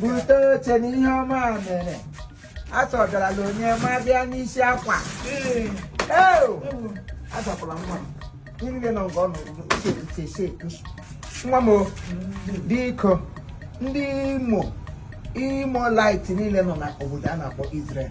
bute oche na ihe ọma mere a sọgarala onye ma bịa n'isi akwa azapụla nwa m gịnị dị na nke ọ nọrọ uche sheki nwa m biko ndị imo Imolites niile nọ na obodo a na-akpọ Israel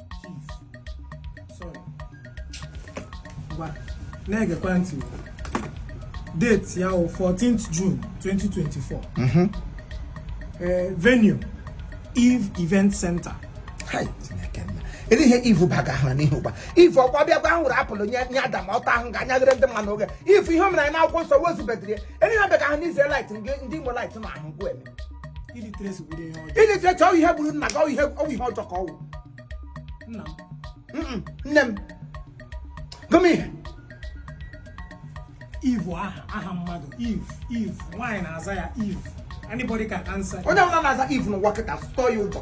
na-egekwa ntị date ya wụ 14th June 2024 mhm. eh, venue Eve Event Center ele ihe Eve baga ahụ n'ihu gba Eve ọkwa bịa ghọrọ apple nye Adam ọta ahụ ga-anyaghere ndị mmanụ oge Eve ihe o mere anyị n'akwụkwọ nsọ o zubedịrị ya ele ihe bịaga ahụ n'ize light ndị Imolites na ahụ nkwụ eme illiteracy bụrụ ihe ọjọọ illiteracy ọwụ ihe gburu nna gị ọwụ ihe ọwụ ihe ọjọọ ka ọwụ nna m Mm-mm, nne m gụm ihe Eve aha aha mmadụ Eve Eve nwaanyị na-aza ya Eve anybody can answer onye ọbụla na-aza Eve n'ụwa kịta tụọ ya ụjọ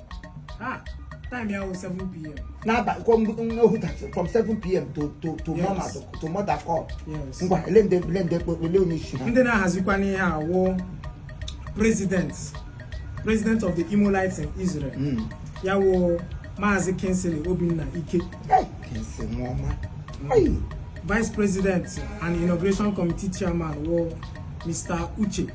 Time ya 7 p.m. N'abalị kwa ohu that is from 7 p.m. to to to yes. mama to, to mother call. Yes. Ngwa ele ndị ele ndị ekpekpe ele onye isi ha. Ndị na-ahazikwa n'ihe a wụ president president of the Imolites in Israel. Mm. Ya wụ Maazị Kingsley Obinna Ike. Hey, Kingsley nwa ọma. Mm. Hey. Vice President and Inauguration Committee Chairman wụ Mr. Uche.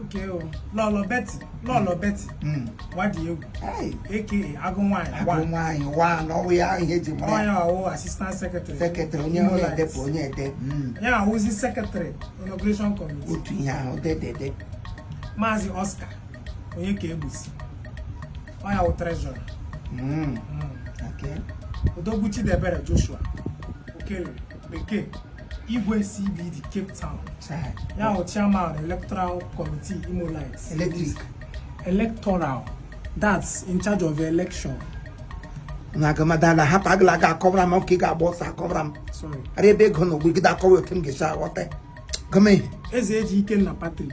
okay Lọlọ Betty Lọlọ Betty hmm. Uwadiegwu a.k.a agụ nwanyị agụ nwanyị wa na ọwụ ya ihe eji mara onye ọwụ assistant secretary secretary onye onye edepụ onye ede hmm. ya wụzi secretary inauguration committee otu ihe ahụ dedede maazị Oscar Onyeka Egbusi ọ ya wụ treasurer hmm. Odogwu Chidebere Joshua Okere Bekee Igwe CBD Cape Town ya bụ chairman electoral committee Imolites electric electoral that's in charge of election na agamadala hapụ agala aga akọwara m ka ị ga-agba ọsọ akọwara m ara ebe ego na ogwegide akọwa otu m ga-esi aghọta gọọmenti Ezeji Ikenna Patrick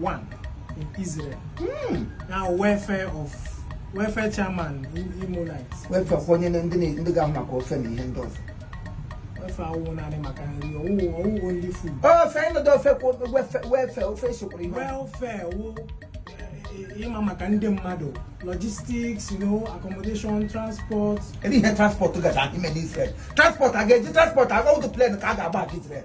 one in Israel. Mm. Now welfare of welfare chairman in Imolites. Welfare onye ndị ndị ga-ahụ maka ofe na ihe ndị ọzọ. Welfare awụ naanị maka nri ọwụ ọwụ only food. Ofe ịnọdụ ofe kwa welfare ofe esokwara ihe. Welfare wụ eh, ịma maka ndị mmadụ logistics you know accommodation transport. Kedu ihe transport gacha ime n'Israel? Transport a ga-eji transport aga ụdụ plane ka a ga-agba aga Israel.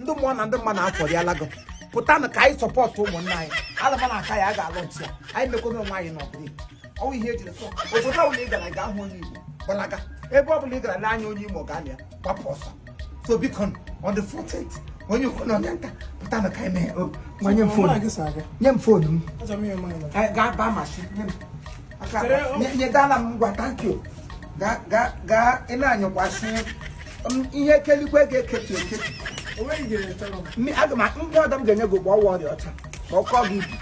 ndị mmụọ na ndị mmadụ afọrịala gị pụtanụ ka anyị support ụmụnne anyị alaba na aka ya a ga-launch ya anyị mekwana onwe anyị n'ọbụla ọnwụ ihe ejiri sọ obodo ọbụla ị gara gaa hụ onye igbo gbalaga ebe ọbụla ị gara lee anya onye imo ga ya gbapụ ọsọ so biko on the 14th onye ukwu na onye nta pụtanụ ka anyị mee nye m phone nye m phone m gaa baa machine nye m nyedala m ngwa thank you gaa ị na-anyụkwasị ihe kelikwe ga-eketu eketu aga m bịa ọdọ m ga-enye gị ọkpọ ọwa ọrịa ọcha ka ọ kọọ gị ibu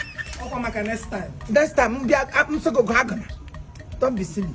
ọkwa maka next time next time m bịa m sụọ gị ọkpọ agana don't be silly